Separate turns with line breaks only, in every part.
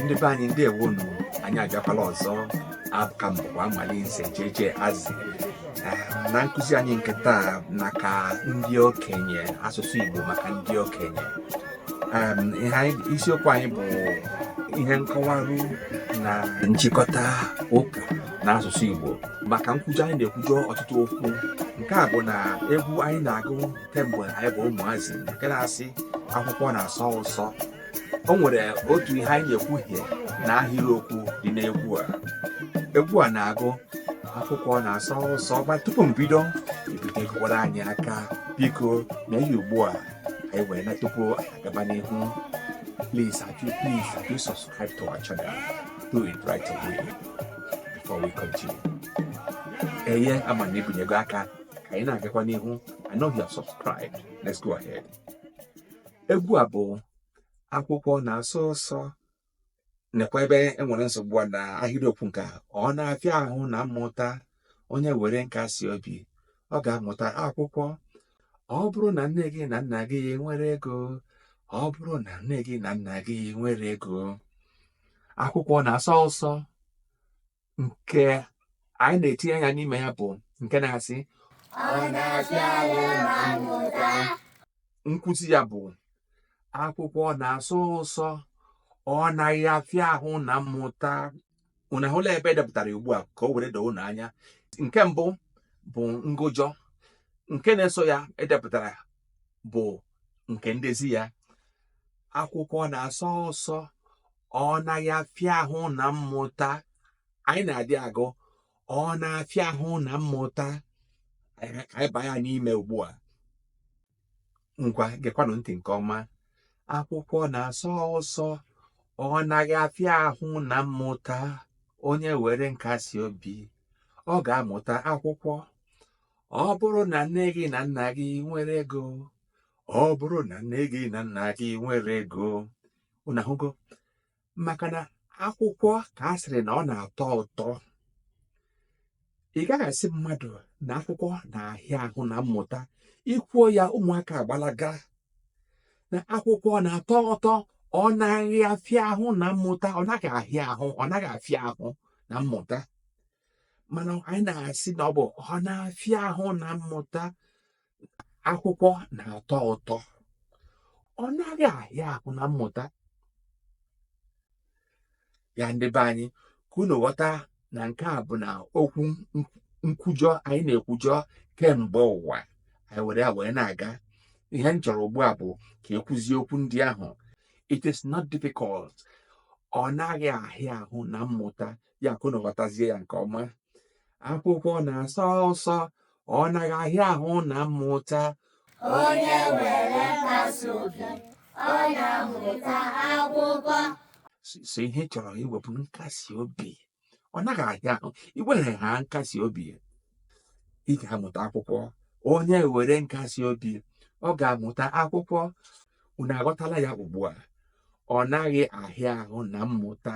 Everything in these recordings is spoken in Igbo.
ndị be anyị ndewonu anyị abịakwala ọzọ aka m bụkwa amalinze jeje azị na nkụzi anyị nke taa maka ndị okenye asụsụ igbo maka ndị okenye isiokwu anyị bụ ihe nkọwarụ na nchịkọta okwu na asụsụ igbo maka nkwujọ anyị na-ekwujọ ọtụtụ okwu nke a bụ na egwu anyị na-agụ kemgbe anyị bụ ụmụazị nke na-asị akwụkwọ na-asọ ụsọ o nwere otu ihe anyị na-ekwuhie na ahịrịokwu dị n'egwu a egwu a na-agụ akwụkwọ na-asọ ụsọ ma tupu m bido i binyegokwara anyị aka biko mee ya ugbu a anyị wee na tupu anyị agaba n'ihu please have you please have you subscribe to our channel do it right away before we continue eye ama m na i binyego aka ka anyị na-agakwa n'ihu I know you have subscribed let's go ahead egwu a bụ akwụkwọ na-asọ ụsọ nekwa ebe e nwere nsogbu a na ahịrịokwu nke a ọ na-afịa ahụ na mmụta onye were nkasi obi ọ ga-amụta akwụkwọ ọ bụrụ na nne gị na nna gị nwere ego ọ bụrụ na nne gị na nna gị nwere ego akwụkwọ na-asọ ụsọ nke anyị na-etinye anya n'ime ya bụ nke
na-asị ọ na-afịa ahụ na mmụta nkwuzi
ya bụ akwụkwọ na-asọ ụsọ ọ naghị afịa ahụ na mmụta unu ahụla ebe e depụtara ugbu a ka o were doo unu anya nke mbụ bụ ngụjọ nke na-eso ya edepụtara bụ nke ndezi ya akwụkwọ na-asọ ụsọ ọ naghị afịa ahụ na mmụta anyị na-adị agụ ọ na-afịa ahụ na mmụta ka anyị baa ya n'ime ugbu a ngwa gekwanụ ntị nke ọma akwụkwọ na-asọ ụsọ ọ naghị afịa ahụ na mmụta onye were nkasi obi ọ ga-amụta akwụkwọ ọ bụrụ na nne gị na nna gị nwere ego ọ bụrụ na nne gị na nna gị nwere ego unu ahụgo maka na akwụkwọ ka a sịrị na ọ na-atọ ụtọ ị gaghị asị mmadụ na akwụkwọ na-ahịa ahụ na mmụta i kwuo ya ụmụaka agbalaga na akwụkwọ na-atọ ụtọ ọ naghị afịa ahụ na mmụta ọ naghị ahịa ahụ ọ naghị afịa ahụ na mmụta mana anyị na-asị na ọ bụ ọ na-afịa ahụ na mmụta akwụkwọ na-atọ ụtọ ọ naghị ahịa ahụ na mmụta ya ndị be anyị ka unu ghọta na nke a bụ na okwu nkwujọ anyị na-ekwujọ kemgbe ụwa anyị were ya wee na-aga ihe m chọrọ ugbu a bụ ka e kwuzie okwu ndị ahụ it is not difficult ọ naghị ahịa ahụ na mmụta ya ka unu ghọtazie ya nke ọma akwụkwọ na-asọ ụsọ ọ naghị ahịa ahụ na mmụta
onye were nkasi obi ọ na-amụta akwụkwọ so
ihe chọrọ iwe bụ nkasi obi ọ naghị ahịa ahụ i were ha nkasi obi ị ga-amụta akwụkwọ onye were nkasi obi ọ ga-amụta akwụkwọ unu aghọtala ya ugbu a ọ naghị ahịa ahụ na mmụta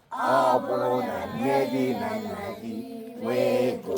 ọ bụrụ na nne gị na nna gị nwee ego